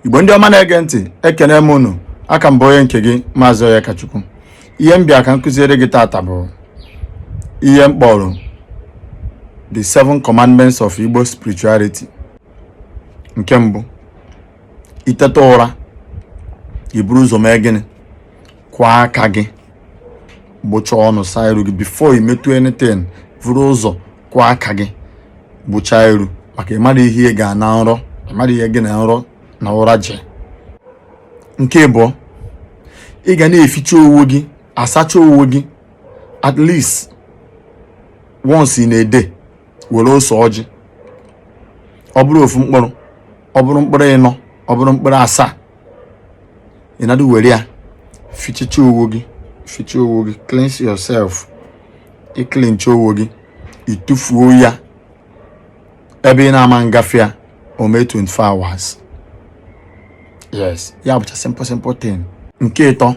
igbo ndị ọma na-ege ntị ekene m unu aka m bụ onye nke gị maazị Onyekachukwu ihe m bịa ka m kuziere gị taata bụ ihe m kpọrọ the seven commandments of Igbo spirituality nke mbụ i teta ụra i buru ụzọ mee gịnị kwụọ aka gị gbụchaa ọnụ saa iru gị before you metụ anything vuru ụzọ kwụọ aka gị gbụchaa iru maka ị mara ihe ga na nrọ ị mara ihe gị na nrọ na ụra ji nke ịbụọ ị ga na-eficha owo gị asacha owo gị at least once in a day were ose ọjị ọ bụrụ ofu mkpụrụ ọ bụrụ mkpụrụ ịnọ ọ bụrụ mkpụrụ asaa ị na-adị were ya fichecha owo gị ficha owo gị cleanse yourself ị cleanchaa owo gị ị tụfuo ya ebe ị na-ama ngafe ya o mee 24 hours yes ya bụcha simple simple thing nke ịtọ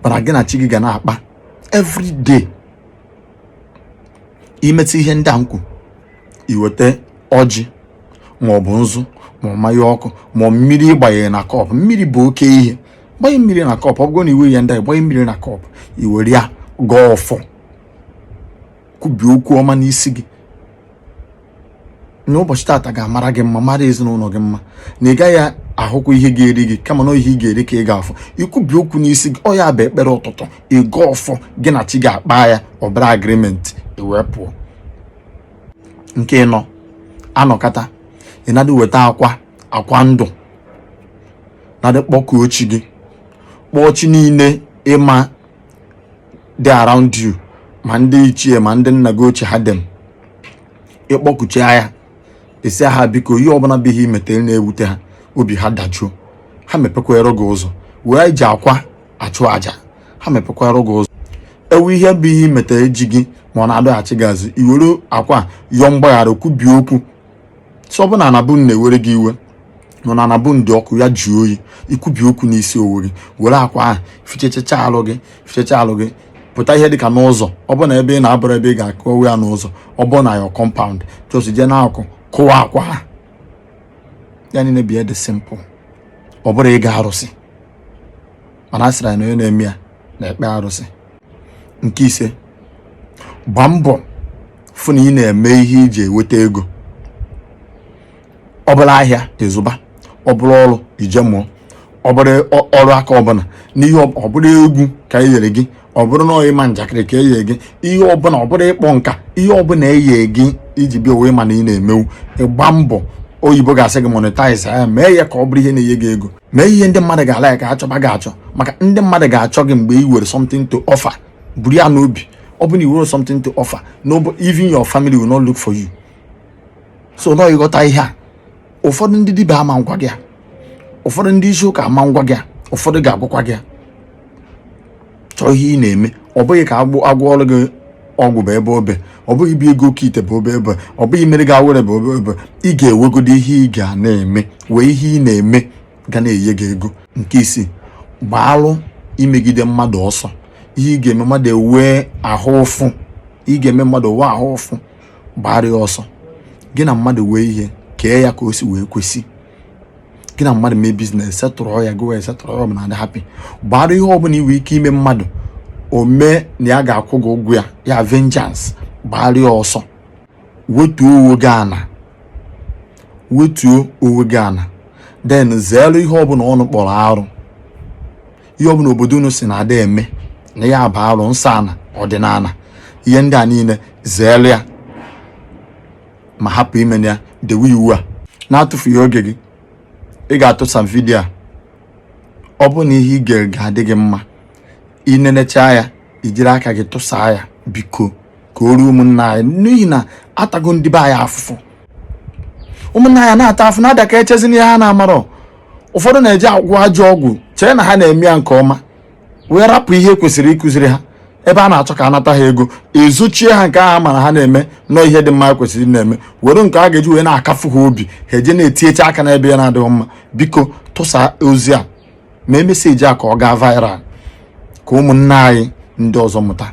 bụ na gị na chi gị ga na-akpa every day i metụ ihe ndị a m kwuru i weta ọjị maọbụ nzu ma mmanya ọkụ ma mmiri ị gbanye na cup mmiri bụ oke ihe gbanye mmiri na cup ọ bụrụ na iwe ya ndị gbanye mmiri na cup i were ya gọọ ọfọ kwubie okwu ọma n'isi gị na ụbọchị taata ga-amara gị mma mara ezinụlọ gị mma na ị gaghị ahụkwa ihe ga-eri gị kama na ihe ị ga-eri ka ị ga-afụ i kwubie okwu n'isi gị ọ ya bụ ekpere ụtụtụ ịgọ ọfọ gị na chi gị akpaa ya ọ bụrụ agreement i wee pụọ nke ịnọ a nọkata ị na-adị weta akwa akwa ndụ na-adị kpọkuo chi gị kpọọ chi niile ị ma dị around you ma ndị ichie ma ndị nna gị ochie ha dum ị kpọkuchaa ya sị ha biko ihe ọbụla bụ ihe i metere na-ewute ha obi ha dajuo ha mepekwara gị ụzọ e ji akwa achụ aja ha mepekwara gị ụzọ e nwee ihe bụ ihe i metere ji gị ma ọ na-adọghachi gị azụ i were akwa yọọ mgbaghara kwubie okwu so ọ bụ na ana ị bu na-ewere gị iwe nọ na ana ị bu dị ọkụ ya jụọ oyi i kwubie okwu n'isi owe gị were akwa ahụ fichechacha alụ gị fichecha alụ gị pụta ihe dịka n'ụzọ ọ bụ na ebe ị nọ abụrọ ebe ị ga-akụwa ya n'ụzọ ọ bụ na ya compound just jee n'akụkụ kụwaa akwa ahụ ya niile bịa dị simple ọ bụrọ ịgọ arụsị mana a sịrị na onye na-eme ya na-ekpe arụsị nke ise gbaa mbọ fụ na ị na-eme ihe iji enweta ego ọ bụrụ ahịa ị zụba ọ bụrụ ọrụ ị je mụọ ọ bụrụ ọrụ aka ọbụna na ọ bụrụ egwu ka e nyere gị ọ bụrụ na ịma njakịrị ka e ye gị ihe ọbụna ọ bụrụ ịkpọ nka ihe ọbụna e ye gị i ji bịa ụwa ị ma na ị na-emewu ị gbaa mbọ oyibo ga-asị gị monetize ya mee ya ka ọ bụrụ ihe na-enye gị ego mee ihe ndị mmadụ ga-alike ha chọba gị achọ maka ndị mmadụ ga-achọ gị mgbe i were something to offer buru ya n'obi ọ bụ na i werọ something to offer no even your family will not look for you so na ị ghọta ihe a ụfọdụ ndị dibịa ama ngwa gị ya ụfọdụ ndị isi ụka ama ngwa gị ya ụfọdụ ga-agwakwa gị ya chọọ ihe ị na-eme ọ bụghị ka a gwọọrọ gị ọgwụ bụ ebe o be ọ bụghị bugo oke ite bụ obebe ọ bụghị meere gị awere bụ obebe ị ga-ewegodo ihe ị ga na-eme wee ihe ị na-eme ga na-enye gị ego nke isii gbaarụ imegide mmadụ ọsọ ihe ị ga-eme mmadụ o wee ahụ ụfụ ị ga-eme mmadụ o wee ahụ ụfụ gbaara ya ọsọ gị na mmadụ wee ihe kee ya ka o si wee kwesị gị na mmadụ mee business settle ya gowe settle ya ọ na-adị happy gbaara ihe ọbụna i we ike ime mmadụ o mee na ya ga-akwụ gị ụgwọ ya ya vengeance gbaara ya ọsọ wetuo onwe gị ana wetuo onwe gị ana then zeere ihe ọbụna unu kpọrọ arụ ihe ọbụna obodo unu sị na ada eme na ya bụ arụ nsọ ana ọdịnana ihe ndị a niile zeere ya ma hapụ ime ya dewe iwu a n'atụfughị oge gị ị ga-atụsa vidiyo a ọ bụrụ na ihe ị ga ga-adị gị mma i nenechaa ya i jiri aka gị tụsaa ya biko ka o ruo ụmụnna anyị n'ihi na atago ndị be anyị afụfụ ụmụnna anyị na-ata afụ na-ada ka echezi n'ihe ha na-amarọ ụfọdụ na-eje agwọ ajọ ọgwụ chee na ha na-eme ya nke ọma wee rapụ ihe kwesịrị ịkụziri ha ebe a na-achọ ka a nata ha ego e zochie ha nke ahụ mara ha na-eme n'ọ ihe dị mma kwesịrị na-eme were nke a ga-eji wee na-akafu ha obi ha eje na-etiyecha aka n'ebe na-adịghị mma biko tụsa ozi a mee message a ka ọ gaa viral ka ụmụnna anyị ndị ọzọ mụta